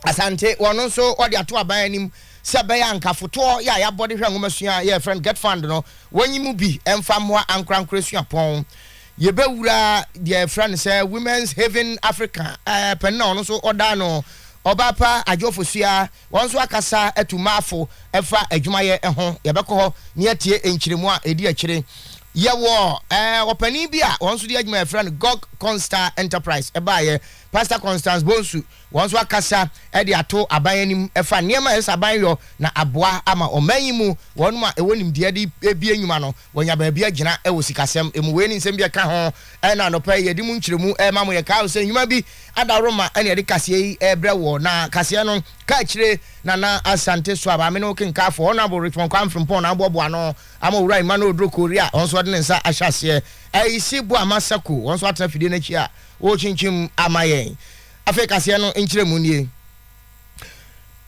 Asante, wɔn nso wɔde ato aban anim sɛ ɛbɛyɛ a nka fotoɔ yɛ a yɛabɔ de hwɛ nwomasua a yɛfrɛ no GetFund no, wɔnyi mu bi mfa mmoa ankorankoro suapɔn. Yɛbɛwura deɛ yɛfrɛ no sɛ Women's Haven Africa, eh, panin na ɔno nso ɔda ano, Ɔbaapa Adjo Fosuah, wɔn nso akasa atu mmaa fo ɛfa adwumayɛ ho. Yɛbɛkɔ hɔ na yɛatie nkyerɛmu a ɛdi akyire. Yɛwɔ eh, ɔpanin bi a wɔn nso de adwuma yɛfrɛ no Gog Constar Enterprise ɛbaeɛ Pastor Constance Bonsu, wɔn nso akasa de ato aban anim fa nneɛma a ɛsɛ sɛ aban yɔ na aboa ama ɔman yi mu wɔnom a ɛwɔ nimdeɛ de bie nnwuma no wɔanya baabi agyina wɔ sikasɛm mu. Wei ne nsɛm bi a ɛka ho na anɔpa yi yɛde mu nkyerɛmu rema mo. Yɛkae wo sɛ nnwuma bi adaworo ma ɛne yɛde kaseɛ yi rebrɛ woɔ na kaseɛ no ka akyire Nana Asante so a Maame no kenkaafo Honourable Richmond Kwame Frimpong na aboaboa ano ama Owura Emmanuel Oduro Kori a ɔno nso ɔde ne nsa ahyɛ aseɛ. Ayisi Boama Sako wɔn nso atena fidie no akyi a Wɔrekyinkyim ama yɛn. Afei kaseɛ no nkyerɛmu nie,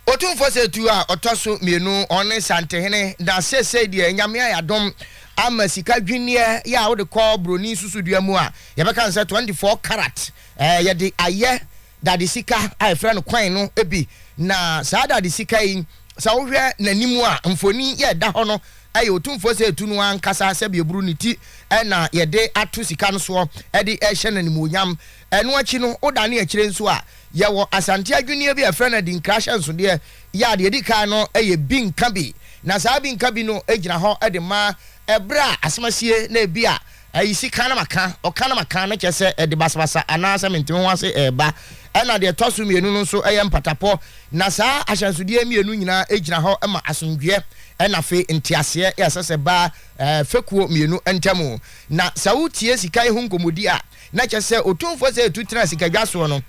Otumfoɔ sɛ tu a ɔtɔ so mmienu, ɔne Nsantehene, na seesei deɛ Nyame ayɛ adom ama sika dwinneɛ yɛ a wode kɔ broni susudua mu a, yɛbɛka no sɛ 24 karat. Ɛɛ, yɛde ayɛ dade sika a yɛfrɛ no coin no bi, na saa dade sika yi, sɛ wohwɛ n'anim a, mfoni yɛ ɛda hɔ no, ɛyɛ otumfoɔ sɛ etu no ankasa sɛ beaburu ne ti na yɛde ato sika no soɔ de rehyɛ no animuonyam. Ɛno akyi no, wodane akyire nso a, yɛwɔ Asante adwinneɛ bi a yɛfrɛ no adinkra ahyɛnsodeɛ, yɛ a deɛ ɛdi kan no yɛ bi nka bi, na saa bi nka bi no gyina hɔ de ma berɛ a asɛm asie na ebia Ayi sika na maka, ɔka na maka no kyerɛ sɛ ɛde basabasa anaasɛ mente me ho ase reba. Ɛnna deɛ ɛtɔ so mmienu no nso yɛ mpatapɔ. Na saa ahyɛnsodeɛ mmienu nyinaa gyina hɔ ma asomdwoeɛ na afei nteaseɛ a ɛsɛ sɛ ɛba fekuo mmienu ntam. Na sɛ wotie sika yi ho nkɔmmɔdi a, na kyerɛ sɛ Otumfoɔ Sɛ Yɛtu Tena Sikadwa Soɔ no,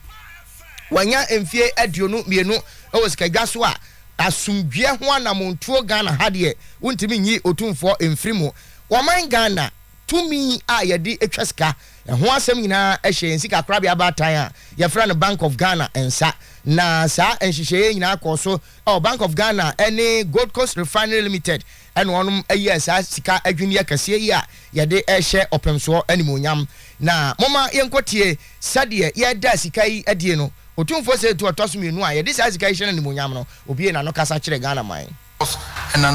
Wanya mfie aduonu mmienu wɔ sikadwa so a asomdwoeɛ ho anamontuo Ghana ha deɛ wontumi nyi otumfoɔ mfiri mu. Wɔman Ghana tumi a yɛde twa sika ho asɛm nyinaa hyɛ yɛn sikakorabea baatan a yɛfrɛ no Bank of Ghana nsa. Na saa nhyehyɛeɛ yi nyinaa kɔɔ so wɔ Bank of Ghana ne Gold Coast Refinery Limited na wɔnom yɛɛ saa sika adwinneɛ kɛseɛ yi a yɛde rehyɛ ɔpem soɔ animuonyam. Na momma yɛnkɔ tie sɛdeɛ yɛda sika yi adie no, Otumfoɔ Sɛ Etu Ɔtɔso Mmienu a yɛde saa sika yi hyɛ no animuonyam no, ɔbue n'ano kasa kyerɛ Ghana man. and an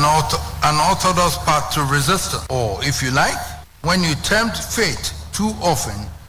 unorthodox path to resistance, or if you like, when you tempt fate too often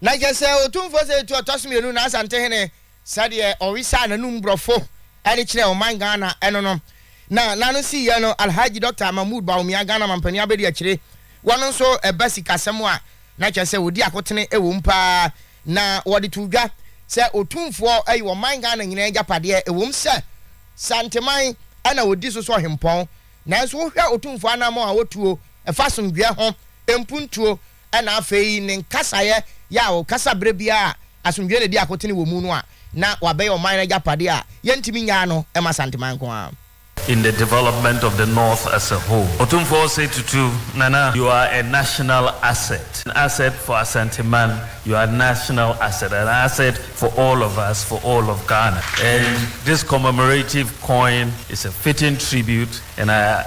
Na kyɛ sɛ Otumfoɔ sɛ etu ɔtɔ so mmienu na Asantehene sɛdeɛ ɔwesaa n'anum borɔfo de kyerɛɛ ɔman Ghana no no na n'ano sii yɛ no Alhaji Dɔkta Mahmood Bawumia Ghana Mampanin abɛdi akyire wɔn nso ɛba sikasɛm a na kyɛ sɛ wɔdi akotene wɔ mu paa na wɔde too dwa sɛ Otumfoɔ yɛ ɔman Ghana nyinaa agyapadeɛ ɛwɔ mu sɛ Santeman na wɔdi so sɛ ɔhempɔn nanso wohwɛ Otumfoɔ anammɔn a ɔtuo ɛfa asomdwoeɛ ho mpuntuo Ɛnna afei ne nkasaeɛ yɛ a ɔkasa berɛ biara a asomdwoeɛ na ɛdi akotene wɔ mu no a, na wabɛyɛ ɔman no agyapadeɛ a yɛntumi nnyaa no mma Santeman nko ara. in the development of the North as a whole. Otumfoɔ Osei Tutu, Nana, you are a national asset, an asset for Asanteman, you are a national asset, an asset for all of us, for all of Ghana. And this commemorative coin is a fitting tribute and I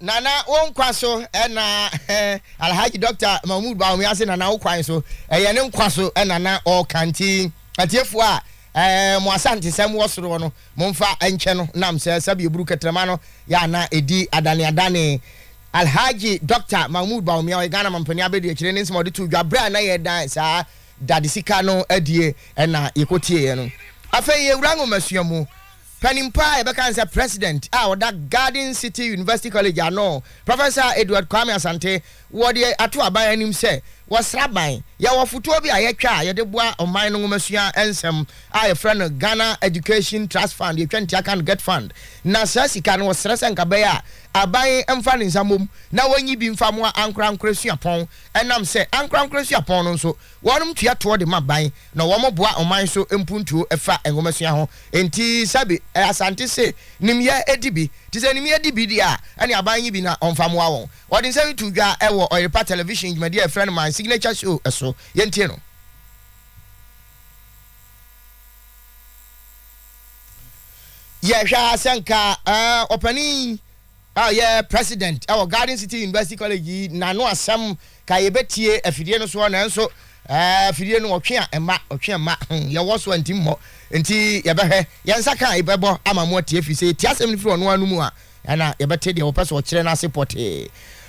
Nana wo nkwa so ɛna Alhaji Doctor Mahmood Bawumia se Nana wo kwan so ɛyɛ ne nkwa so ɛna na ɔka nti atiefoɔ a ɛɛ mo asantesɛm wɔ soroɔ no mo mfa nkyɛ no nam sɛ sɛbi eburu kɛtrɛma no yɛ ana ɛdi adane adane Alhaji Doctor Mahmood Bawumia ɔyɛ Ghana mampanin abɛdi akyire ne nsɛm a ɔde too dwa berɛ a na yɛdan saa dadesika no adie ɛna yɛkɔtieɛ no. Afei yɛwura nwomasua mu. Panin pa ara a yɛbɛka ne sɛ President a ɔda Garden City University College ano, Professor Edward Kwame Asante, wɔ deɛ ato aban anim sɛ wɔsra ban. Yɛwɔ fotoɔ bi a yɛtwa a yɛde boa ɔman no nwomasua nsɛm a yɛfrɛ no Ghana Education Trust Fund, yɛtwa ne ti aka no Get Fund. Na saa sika no wɔsrɛ sɛ nka bɛyɛ a aban mfa ne nsa mmom na wɔnyi bi mfa mmoa ankorankorɛ suapɔn ɛnam sɛ ankorankorɛ suapɔn no nso Wɔnom tua toɔ de ma ban na wɔn boa ɔman so mpuntuo fa nwomasua ho. Enti sɛbi Asante se nimyɛ di bi. Te sɛ nimyɛ di bi deɛ a, ɛne aban nyi bi na ɔmfa moa wɔn. Wɔde nsɛm yi too dwa wɔ Ɔyerepa Television dwumadie a yɛfrɛ no My Signature Show so. Yɛntie no. Yɛhwɛ a sɛ nka ɔpanin. a ɔyɛ president wɔ Garden City University College yi n'ano asɛm ka yɛbɛtie afidie no soɔ nanso afidie no ɔtwe a ɛma ɔtwe a ɛma hmm, yɛwɔ so a nti mmɔ nti yɛbɛhwɛ yɛn nsa ka a yɛbɛbɔ ama mo atie firi sɛ yɛtie asɛm no firi ɔno ano mu a ɛna yɛbɛte deɛ wɔpɛ sɛ ɔkyerɛ no ase pɔtee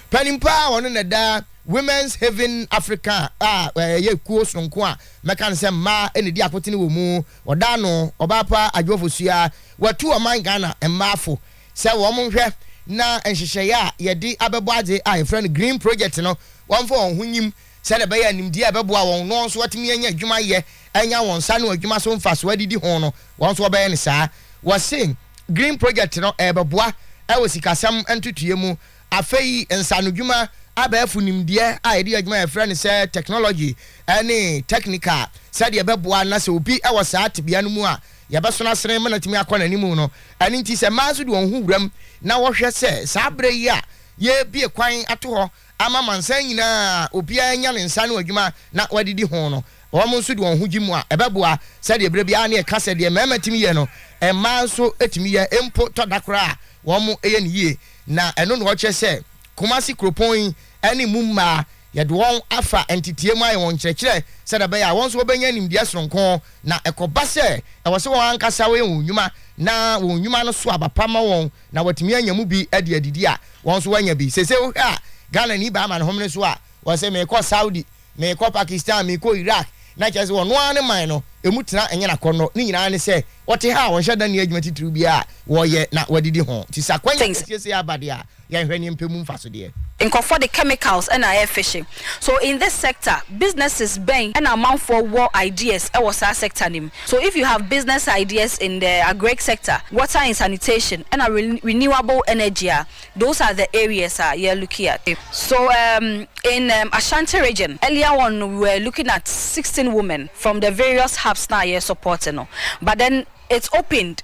panimpa a ɔno na ɛda Women's Haven Africa a ɛyɛ kuo sononko a mɛka no sɛ mmaa na ɛdi akotene wɔ mu ɔda ano ɔbaa pa adwoɔfo sua watu ɔman Ghana mmaafo sɛ wɔn nhwɛ na nhyehyɛeɛ a yɛde abɛbɔ adze a yɛfrɛ no Green Project no wɔmfa wɔn ho nyim sɛdeɛ ɛbɛyɛ a nimdeɛ a ɛbɛboa wɔn na wɔn nso wɔatumi anya adwuma yɛ anya wɔn nsa ano adwuma so mfasoɔ adidi ho no wɔn nso wɔbɛyɛ no saa. Wɔse Green Project no ɛrebɛboa wɔ sikasɛm ntotoeɛ mu. Afei nsaanodwuma abɛɛfo nimdeɛ a yɛde yɛ adwuma a yɛfrɛ no sɛ Technology ne Technical sɛdeɛ ɛbɛboa na sɛ obi wɔ saa tebea no mu a, yɛbɛso no asene ma no atumi akɔ n'anim no. Ɛno nti, sɛ mmaa nso de wɔn ho wuram na wɔhwɛ sɛ saa berɛ yi a yɛrebue kwan ato hɔ ama amansan nyinaa a obiara anya ne nsa ano adwuma na wɔadidi ho no, wɔn nso de wɔn ho gye mu a, ɛbɛboa. Sɛdeɛ berɛ biara na yɛka sɛ, deɛ mmarima tumi yɛ no, mmaa nso tumi yɛ, mpo tɔ da koraa a, wɔyɛ no yie. Na ɛno na ɔkyerɛ sɛ Kumasi kuropɔn yi ne mu mmaa Yɛde wɔn afa ntetee mu ayɛ wɔn nkyerɛkyerɛ sɛdeɛ ɛbɛyɛ a wɔn nso wɔbɛnya nimdeɛ sononko, na ɛkɔba sɛ ɛwɔ sɛ wɔn ankasa wɔyɛ wɔn nnwuma na wɔn nnwuma no so aba pa ma wɔn na wɔatumi anya mu bi de adidi a, wɔn nso wɔanya bi. Seesei wohwɛ a, Ghanani baa amanehomene so a, ɔse meekɔ Saudi, meekɔ Pakistan, meekɔ Iraq, na kyerɛ sɛ ɔno ara ne man no, ɛmu tena ɛnyɛ n'akɔnnɔ, ne nyinaa ne sɛ ɔte ha a ɔnhyɛ da nni adwuma titiriw biara a wɔyɛ na wɔadidi ho. Nti sɛ akwanya kɛseɛ sei aba deɛ a, Yɛnhwɛ neɛ mpɛ mu mfasodeɛ. Nkurɔfoɔ de chemicals na ayɛ fihye. So in this sector, businesses bɛn na amanfoɔ wɔ ideas wɔ saa sector no mu? So if you have business ideas in the agric sector, water and sanitation na renewable energy a, those are the areas a yɛ looki at. So um in um Ashanti region, earlier on no we were looking at sixteen women from the various hubs no a yɛ supporte no, but then it's opened.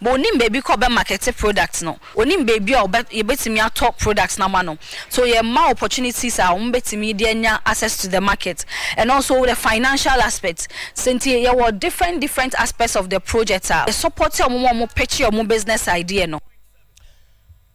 But onim baabi kɔ bɛ markete product no, onim baabi a ɔbɛ yɛbɛtumi atɔ product no ama no. So yɛ ma opportunities a wɔn bɛtumi de anya access to the market and also the financial aspect. Sɛ nti yɛ wɔ different different aspects of the project a, yɛ support wɔn ma wɔn pitch wɔn business idea no.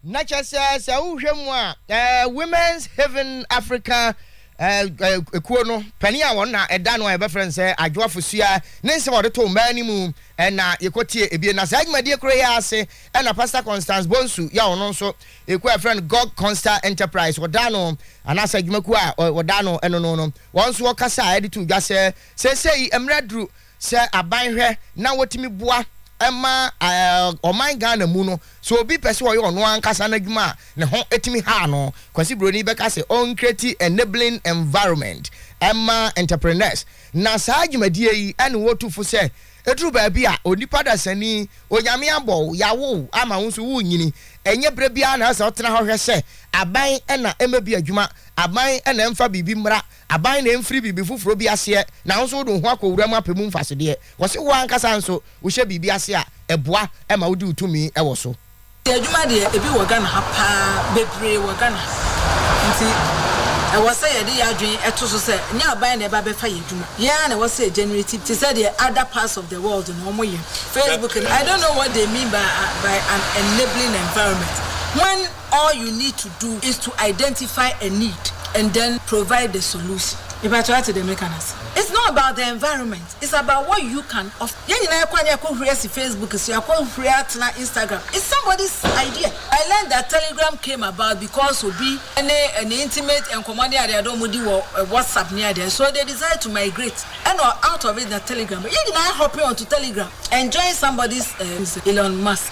Na kyɛ sɛ, sɛ wohwɛ mu a, Women's Haven Africa kuo no panin a wɔn na ɛda no a yɛbɛfrɛ no sɛ Adwoa Fosuaa ne nsɛm a ɔde too mmaa no mu na yɛkɔtie ebien. Na saa dwumadie koro yi ara ase na Pastor Constance Bonsu yɛ a ɔno nso ekuo a yɛfrɛ no Gog Consta Enterprise ɔda ano anaasɛ adwumakuo a ɔda ano no no no wɔn nso wɔkasa de too dwa sɛ seesei mmerɛ aduru Sɛ aban hwɛ na wɔtumi boa ma ɔman Ghana mu no, sɛ obi pɛ sɛ ɔyɛ ɔno ankasa n'adwuma a, ne ho tumi haw no. Kwasi Broni bɛka sɛ ɔncreati enabling environment ma entrepreneurs, na saa dwumadie yi ne wɔtu fo sɛ ɛduru baabi a onipa dasani, Onyame abɔ wo, yɛawo wo ama wo nso worenyini. Ɛnyɛ berɛ biara na ɛsɛ sɛ wotena hɔ hwɛ sɛ aban na ɛmɛbi adwuma, aban na ɛmfa biribi mmra Aban na emfiri biribi foforɔ bi aseɛ na wo nso wode wo ho akɔwura mu apɛ mu mfasodeɛ. Wɔse wo ankasa nso wohyɛ biribi ase a, ɛboa ma wodi wo tumi wɔ so. Yɛ adwuma deɛ ebi wɔ Ghana ha paa, bebree wɔ Ghana ha, nti ɛwɔ sɛ yɛde yɛ adwene to so sɛ nyɛ aban na ɛba bɛfa yɛ adwuma, yɛn ara na ɛwɔ sɛ yɛ generate te sɛ deɛ other parts of the world no wɔyɛ. Facebook no, I don't know what they mean by an enabling environment when. all you need to do is to identify a need and then provide the solution. Mepakyɛ wate deɛ meka no ase? It's not about the environment, it's about what you can offer. Yɛn nyinaa yɛkɔ a ne yɛakɔ huri asi Facebook so, yɛakɔ huri atena Instagram. It's somebody's idea. I learned that Telegram came about because obi ne ne intimate nkɔmmɔ ne adeɛ ade wɔn di wɔ WhatsApp ne adeɛ so they decided to migrate and out of it na Telegram. Yɛn nyinaa hopping onto Telegram and join somebody's uh, Elon Musk.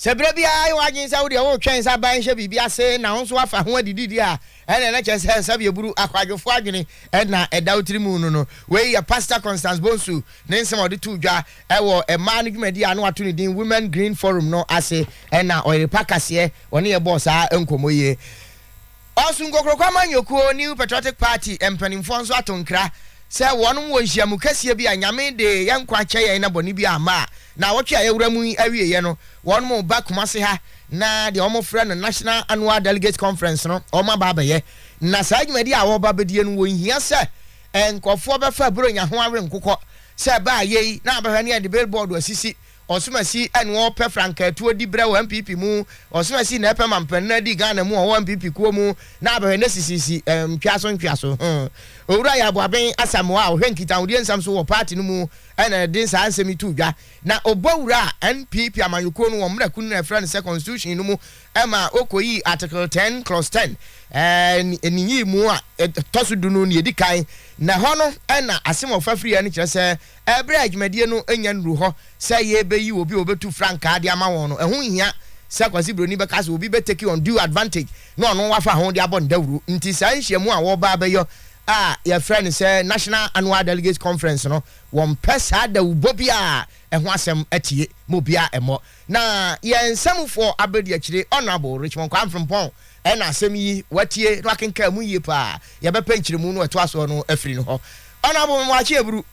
Sɛ berɛ biara ayɛ w'adwene sɛ wodeɛ woretwɛn sɛ aban nhyɛ biribi ase na wo nso woafa ho adi didi a, ɛnneɛ na kyerɛ sɛ nsabiaburu, akwadwofoɔ adwene, na ɛda wo tiri mu no no. Wei yɛ Pastor Constance Bonsu ne nsɛm a ɔde too dwa wɔ mmaa no dwumadie a na wato ne din Women Green Forum no ase, ɛna ɔyere pa kaseɛ, ɔne yɛn bɔɔ saa nkɔmmɔ yi. Ɔsom Kokroko Amanyɔkuo, New Patriotic Party, mpanimfoɔ nso ato nkra sɛ wɔnom wɔ nhyiamu kɛseɛ bi a Nyame de yɛn nkwa kyɛ yɛn na bɔne biara amma a naawɔtwe a yɛawura mu yi awieɛ no wɔnom reba Kumasi ha na deɛ wɔfrɛ no National Annual Delegates Conference no wɔn aba abɛyɛ na saa dwumadie a wɔreba abɛdie no wɔnhia sɛ nkurɔfoɔ bɛfa Buronya ho awe nkokɔ sɛ baa yei na abɛhwɛ ne yɛde billboard asisi Ɔsomasi ɛne ɔpɛ frankaa tuo di berɛ wɔ NPP mu, Ɔsomasi na ɛpɛ mampanin no adi Ghana mu ɔwɔ NPP kuo mu na abɛhwɛ ne sisisi ntweaso ntweaso ho. Owura Yaw Boaben Asamoah a ɔhwɛ nkitahodie nsɛm so wɔ party no mu na ɛde saa nsɛm yi too dwa na ɔbɔ wura NPP amanyɔkuo no wɔn mmra kunu no a ɛfrɛ no sɛ constitution no mu ma ɔkɔyii article ten clause ten ne yii mu a ɛtɔ so du no nea ɛdi kan na ɛhɔ no na asem a ɔfa firiiɛ no kyerɛ sɛ Bere a dwumadie no nnya nnuru hɔ sɛ yɛrebɛyi obi a ɔbɛtu frankaa de ama wɔn no, ɛho nhia sɛ Kwasi Broni bɛka sɛ obi bɛ take undue advantage na ɔno wafa ho de abɔ no dawuro. Nti saa nhyiamu a wɔreba abɛyɔ a yɛfrɛ no sɛ National Annual Delegates Conference no, wɔmpɛ saa dawubɔ biara a ɛho asɛm atie ma obiara mmɔ. Na yɛn nsamufoɔ abadiakyire Honourable Richmond Kwame Frimpong na asɛm yi watie na wakenkan mu yie paa. Yɛbɛpɛ nkyerɛmu no a ɛtoa soɔ no afiri ne hɔ. Honourable Memaakye Aburu.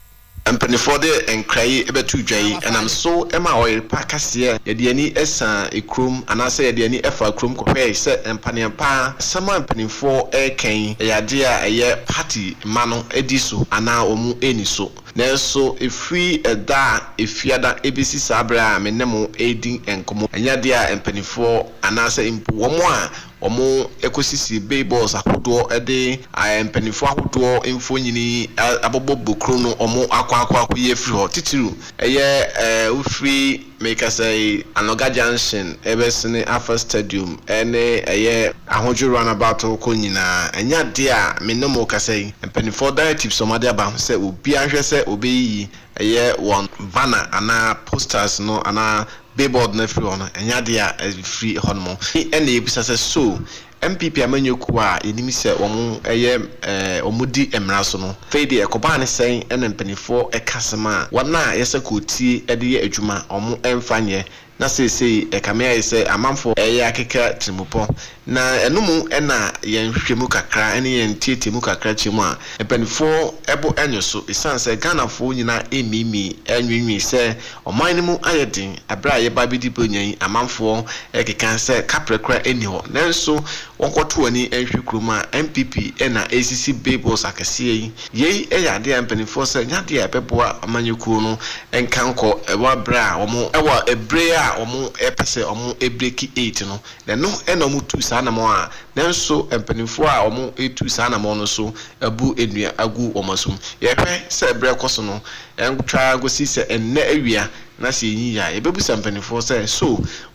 Mpaninfoɔ de nkra yi bɛto dwa yi ɛnam so ma ɔyerepa ka seɛ yɛde yɛn ani saa kurom anaa sɛ yɛde yɛn ani faa kurom kɔhwɛɛe sɛ mpaneɛmpa asɛm a mpaninfoɔ reka yi ɛyɛ adeɛ a ɛyɛ party mma no di so anaa wɔn nni so. Nanso ɛfiri ɛda a Efiada ɛbɛsi saa berɛ a me ne mo redi nkɔmmɔ, ɛnyɛ adeɛ a mpanimfoɔ anaasɛ mpo wɔn a wɔkɔsisi billboards ahodoɔ de mpanimfoɔ ahodoɔ mfonini abobɔ bokuro no wɔakɔ akɔyi afiri hɔ, titiriw ɛyɛ wofiri Merekasa yi, Anɔga Junction rebɛsene afa stadium ne ɛyɛ ahodwo runabout rekɔ nyinaa. Ɛnyɛ adeɛ a me ne mo rekasa yi, mpanimfoɔ directives a wɔde aba ho sɛ obiara nhwɛ sɛ ɔbɛyiyi ɛyɛ wɔn banner anaa posters no anaa billboard no afiri hɔ no, ɛnyɛ adeɛ a ɛfiri hɔnom. Ɛnna yɛbisa sɛ, So MPP amanyɔ kuo a yɛnim sɛ wɔyɛ wɔdi mmara so no, fei deɛ ɛkɔbaa ne sɛn na mpaninfoɔ ɛka asɛm a wɔn a yɛsɛ kootie de yɛ adwuma wɔn ɛmfa nyɛ na seesei ɛkame ayɛ sɛ amanfoɔ ɛyɛ akeka tirimupɔ na ɛno mu na yɛn nhwehwɛmu kakra ne yɛn nteateamu kakra kyɛ mu a mpaninfoɔ bo nyɔ so ɛsiane sɛ Ghanafoɔ nyinaa ɛmmiimii ɛnweenwee sɛ Ɔman no mu ayɛ den. Bere a yɛba abedi Buronya yi, amanfoɔ rekeka sɛ kaprɛ koraa nni hɔ. Nanso wɔnkɔto wɔn ani nhwɛ kurom a NPP na ɛresisi billboards akɛseɛ yi. Yei yɛ adeɛ a mpanimfoɔ sɛ ɛnyɛ adeɛ a ɛbɛboa amanyɔkuo no nka nkɔ wɔ bere a wɔn, wɔ bere a wɔpɛ sɛ wɔbreki eight no, na ɛno na wɔtuu saa anammɔn a nanso mpanimfoɔ a wɔretu saa anammɔn no so abu nnua agu wɔn asom. Yɛhwɛ sɛ bere rekɔ so no, Ɛntwa ara nkosi sɛ ɛnnɛ awia na sɛ yɛnyi yɛ a, yɛbɛbisa mpanimfoɔ sɛ, So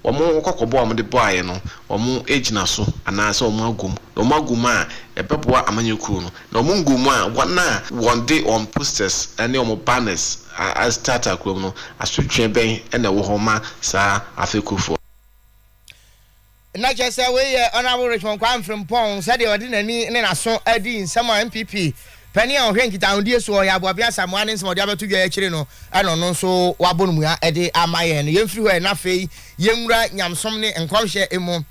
wɔn kɔkɔbɔ a wɔde bɔeɛ no, wɔagyina so anaasɛ wɔagu mu? Na wɔagu mu a, ɛbɛboa amanyɛ kuo no. Na wɔngu mu a, wɔn a wɔde wɔn posters ne wɔn banners ataataa kurom no, asotweɛ bɛn na ɛwɔ hɔ ma saa afɛkufoɔ no? Na kyerɛ sɛ wei yɛ Honourable Richmond Kwame Frimpong sɛdeɛ ɔde n'ani ne n'aso adi nsɛm a NPP panin a ɔhwɛ nkitahodie soɔ Ɔyɛ Aboabea Asamoah ne nsɛm a ɔde abɛto dwa yi akyire no na ɔno nso wabɔ no mua de ama yɛn no. Yɛmfiri hɔ ɛ na afei yɛnwura nyamesom ne nkɔmhyɛ mu.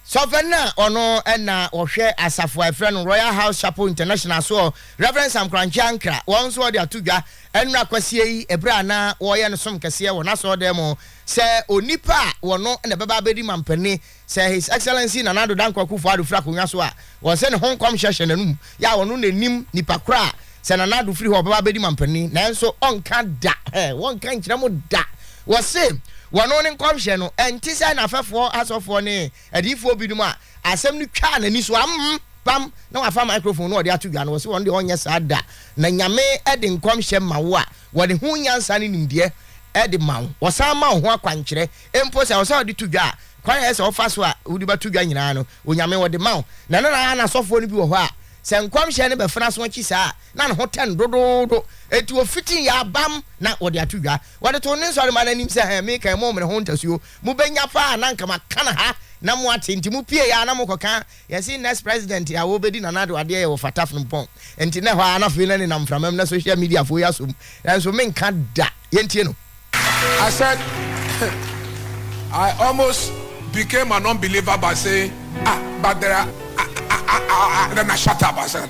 Sɔfɛ no a ɔno na ɔhwɛ asafo a ɛfrɛ no Royal House Chapel International soɔ Rev. Sam Korankye Ankrah wɔn nso wɔde ato dwa nnora kwasie yi berɛ a na wɔreyɛ no som kɛseɛ wɔ n'asɔɔdan mu Sɛ onipa a wɔno na ɛbɛba abɛdi mampanin sɛ His Excellency Nana Addo Dankwa Akufo-Addo firi akonnwa so a, wɔn sɛ ne ho nkɔmhyɛ hyɛ n'anom yɛ a wɔno na ɛnim nipa korɔ a sɛ Nana Addo firi hɔ a ɔbɛba abɛdi mampanin nanso ɔnka da, wɔnka nkyerɛ mo da, wɔse wɔno ne nkɔmhyɛ no ɛnte sɛ n'afɛfoɔ asɔfoɔ ne Adiyifoɔ binom a asɛm no twaa n'ani so amm pam na wafa microphone na ɔde ato dwa no, ɔse ɔno deɛ ɔnyɛ saa da, na Nyame de nkɔmhyɛ ma wo a, wɔde ho nyansa ne nimdeɛ de ma wo, wɔsan ma wo ho akwankyerɛ mpo sɛ ɔsɛ ɔde to dwa a, kwan a ɛyɛ sɛ ɔfa so a wode bɛto dwa nyinaa no, Onyame ɔde ma wo. Na na na n'asɔfoɔ no bi wɔ hɔ a, sɛ nkɔmhyɛ no bɛfena so akyi saa a, na ne ho tɛn dodoodo, enti ɔfiti yɛ abam na ɔde ato dwa. Wɔde too ne nsɔremma no anim sɛ, Ɛɛ, meka yi, mommene ho ntasuo, mobɛnya paa a na anka maka no ha na moate nti mopueeɛ a na mokɔka yɛse next president a wɔbɛdi Nana Addo adeɛ yɛ wɔ Fata Frimpong nti na ɛhɔ ara na afei na nenam mframa mu na social media foɔ yi asɔ mu nanso menka da yɛntie no. I said I almost became an unbeliever by saying ah but there are ah ah ah ah ah Nana shut up I said.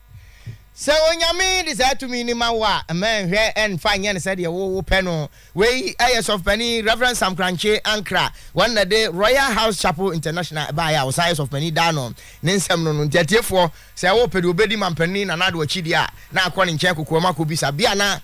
Sɛ Onyame de saa tumi no ma wo a, mma nnhwɛ nnfa nnyɛ no sɛdeɛ wo wo pɛ no. Wei yɛ Sɔfopanin Rev. Sam Korankye Ankrah, wɔn na de Royal House Chapel International ɛbaeɛ a ɔsan yɛ Sɔfopanin daa no, ne nsɛm no no. Nti atiefoɔ, sɛ wo pɛ deɛ ɔbɛdi Mampanin Nana Addo akyi deɛ a, na kɔ ne nkyɛn kokoam akɔbisa bia na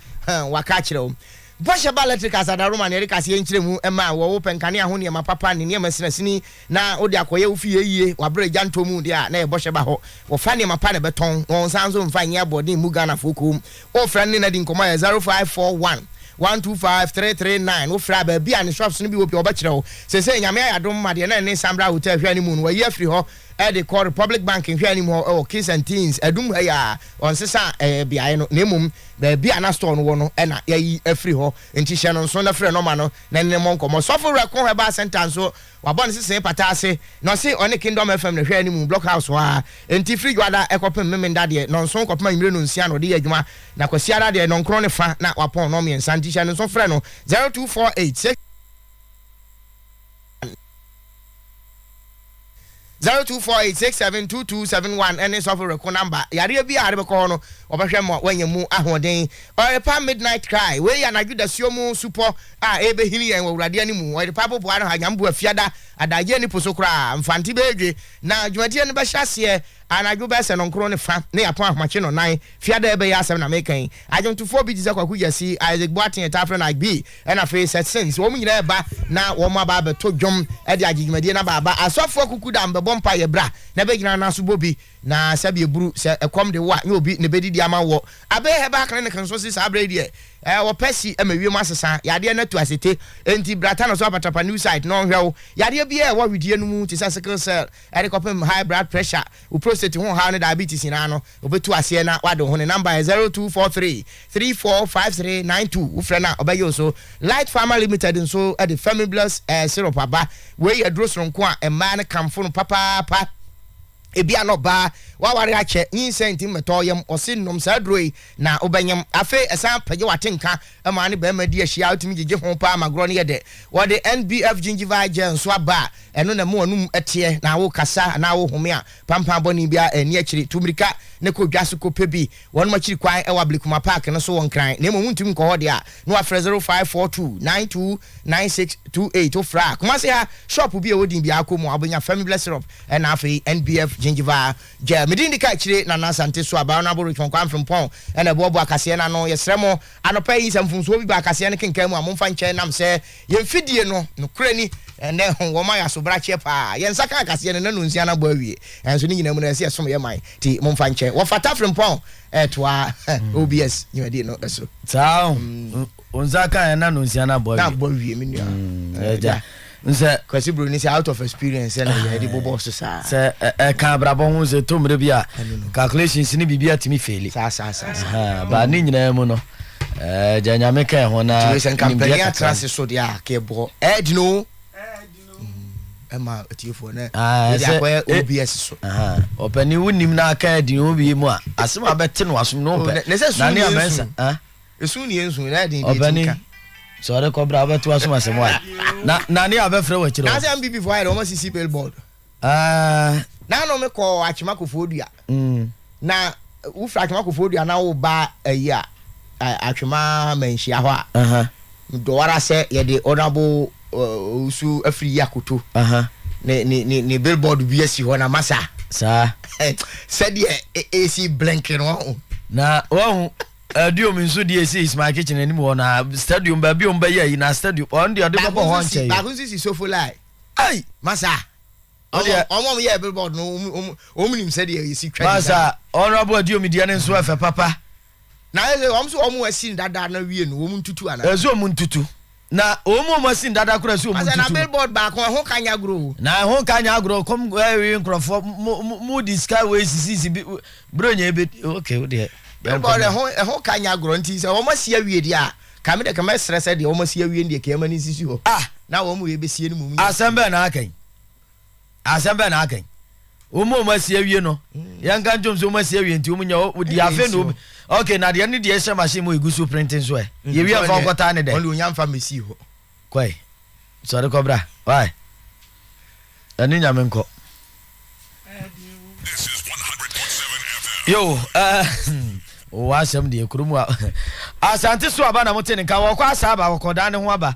waka akyerɛ wo. Bɔhyɛ ba lɛtrik asadaroma na yɛde kaseɛ nkyerɛmu ma a wɔ wo pɛ nkanea ho nneɛma papa ne nneɛma sinasini na wode akɔyɛ wo fie ayie wɔ aberɛ a gya ntɔ mu deɛ a na ɛyɛ bɔhyɛ ba hɔ wɔfa nneɛma pa na ɛbɛtɔn na wɔnsan nso mfa nyɛ aboɔden mmu Ghanafoɔ koom wofrɛ no ne no adi nkɔmmɔ ɛyɛ 0541 125 339 wofrɛ a baabi a ne shops no bi wɔ pii wɔbɛkyerɛ wo seesei Nyame ayɛ adom ma deɛ na ɛne Sambra Hotel hwɛ anim no wɔayi afiri hɔ de kɔ Republic Bank nhwɛanim hɔ wɔ Kings and Teens adum ha yi a wɔnsesa beaeɛ no na mmom baabi a na store no wɔ no na yɛayi afiri hɔ nti hyɛ no nso na frɛ nɔma no na ne mmɔ nkɔmmɔ. Sɔfo Werɛko Herbal Centre nso wabɔ ne sesee pata ase na ɔse ɔne Kingdom FM na ɛhwɛ anim Block House hɔ ara nti firi Dwoada kɔpem Memenda deɛ nnɔnson kɔpem anwummere nnɔnsia na ɔde yɛ adwuma na Kwasiada deɛ nnɔnkron ne fa na wapɔn nnɔnmiɛnsa nti hyɛ no nso frɛ no 0248 zero two four eight six seven two two seven one ɛne sɔfo reko namba yareɛ bi a ade bɛkɔ hɔ no wɔbɛhwɛ ma wɔanya mu ahoɔden ɔyerepa midnight cry wei yɛ anadwo dasuo mu supɔ a ɛbɛhini yɛn wɔ awurade anim ɔyerepa boboa no ha nyambo afiada adagyeɛ ne po so koraa mfante bɛɛdwe na dwumadie no bɛhyɛ aseɛ anadwo bɛsɛ no nkoro ne fa ne apɔn ahomakye no nan fiada ɛbɛyɛ asɛm na meka yi adwontofoɔ bi te sɛ kwaku gyasi isaac boaten ɛtaa frɛ no agbi Ɛna afei sɛ sɛ sɛ wɔn nyinaa reba na wɔn aba abɛto dwom de agye dwumadie no aba aba a, asɔfoɔ akuku da mbɛbɔ mpaeɛ bra na bɛgyina no aso bɔ bi. Na sɛbi ɛburu sɛ ɛkɔm de wo a, nyɛ obi na ɛbɛdidi ama woɔ. Abbey Herbal Clinic nso se saa berɛ yi deɛ, eh, wɔpɛ si ma wiem asesa, yadeɛ no atu asete. Enti bra Tano so Apatrapa New Site na ɔnhwɛ wo yadeɛ biara a ɛwɔ awedie no mu te sɛ sickle cell de kɔpem high blood pressure, Wo prostate ho ɔhaw ne diabetes nyinaa no, obetu aseɛ na wade wo ho. Ne number yɛ zero two four three three four five three nine two. Wo frɛ no a, ɔbɛye wo so. Light Pharma Limited nso de Femibless eh Syrup aba. Wei yɛ aduro sononko a mmaa no kamfo no papaapa. Ebia na ɔbaa, w'awareɛ akyɛ, nyinsɛn nti mmɛtɔ yam. Wɔse nom saa aduro yi na wobɛnyem. Afei ɛsan pagya w'atenka Ɛmaa ne barima di ahyia a otumi gyigye ho paa ma agorɔ no yɛ dɛ. Wɔde NBF Gingival Gel nso aba a ɛno na ɛma w'anom teɛ na wokasa anaa worehome a, pampan bɔne biara nni akyiri. Tu mmirika na kɔ dwa so kɔpɛ bi. Wɔnom akyiri kwan wɔ Ablekuma Park no so wɔ Nkran, na mmom wontumi nkɔ hɔ deɛ a, na woafrɛ 0542929628. Wofrɛ a, Kumase ha, shop bi a ɛwɔ din biara, kɔ mu a, wobɛnya Famibless Syrup ɛnna afei NBF Gingival Gya me din di ka akyire Nana Asante so Abaa Honourable Richmond Kwame Frimpong na ɛboaboa akaseɛ no ano. Yɛsrɛ mo, anɔpa yi sɛ mfomsoɔ bi ba akaseɛ no kenkan mu a, momfa nkyɛ nam sɛ yɛn fidie no, nokorɛ ni, ɛnnɛ wɔma yɛn asobrakyeɛ pa ara. Yɛn nsa ka akaseɛ no nnanu nsia no abɔ awie, nanso ne nyinaa mu no ɛyɛ sɛ yɛsom yɛn man, enti momfa nkyɛ. Wɔfata Frimpong retoa OBS dwumadie no so. Saa o. Onza kan yɛ na no nsia na bɔ wie. Na bɔ wie me nua. Mm, eh, Ɛgya. Nsɛ. Kwasi Broni sɛ out of experience sɛ na yɛ de bobɔ so saa. Sɛ ɛka abrabɔ ho sɛ to mmerɛ bi a calculations ne biribi atumi feli. Saa saa saa saa. Ba ne nyinaa mu no. Ɛgya nyame ka ho na. Tumi sɛ nkampani atra se so deɛ a ka ɛbɔ. Ɛdi no. Ɛdi no. Ɛma atiefoɔ ne. Ɛdi akɔyɛ OBS so. Ɔpɛni wo nim na aka ɛdi no obi mu a. Asem abɛte no asom no pɛ. Na ne amɛnsa. Esu ni ensu na ɛden de etu nka. Sɛ ɔde kɔ bra wobɛto asom asɛm wa na na ne abɛfrɛ wɔ akyire hɔ. Nansɛ MPP fo ayɛ dɛ wɔn asisi billboard. Ah. Na ano me kɔ atwema kofoɔ dua. Mm. Na wofiri atwema kofoɔ dua na woba ayi a atwema manhyia hɔ a. Uh -huh. Medɔwara sɛ yɛde honorable uh, usu afiri yi akoto. Uh -huh. Ne, ne, ne, ne billboard bi asi hɔ na masa. Saa. Sɛdeɛ ɛsi blinking wɔn. Na wɔn. Stadium nso deɛ ɛsi Ismail Kitchen anim hɔ no a stadium baabi ɔm bɛyɛ yi na stadium ɔn deɛ ɔde bɛbɔ hɔ nkyɛn baako nso si Sofolai ai masa ɔm ɔm yɛ billboard no ɔm ɔm nim sɛ deɛ yɛsi twa masa honorable Aduomi deɛ ne nso ɛfɛ papa na ɛsɛ ɔm so ɔm asi dada na wie no ɔm ntutu ana ɛsɛ ɔm ntutu Na wɔn mu a wɔasi no dada koraa si wɔn ntutu. Asa na billboard baako ɛho ka nyɛ agorɔ o. Na ɛho ka nyɛ agorɔ kɔm ɛwi nkorɔfoɔ mo mo mo di sika wei sisisi bi bro nyɛ ebi ok wo deɛ. Billboard ɛho ɛho ka nyɛ agorɔ nti sɛ wɔn asi awie deɛ a ka mi deɛ ka mɛ srɛ sɛ deɛ wɔn asi awie no deɛ ka yɛ ma no nsisi hɔ. Ah. Na wɔn wei bɛ sie no mmom nyɛ. Asɛm bɛn na aka yi. Asɛm bɛn na aka yi? Wɔn a wɔasi awie no, yɛnka ntom sɛ wɔasi awie nti wɔn nya hɔ di afei na obi okay na deɛ ne deɛ ɛhyɛ machine mu egu so printing so ɛ yɛwie a fa nkɔtaa ne dɛ. Wɔn deɛ onya nfa mmesi hɔ. Kɔe sɔre kɔbra why ɛne nyame nkɔ. Yo wɔwɔ asɛm deɛ kurom a Asante so aba na mote ne nka wɔkɔ asaaba wɔkɔdaa ne ho aba.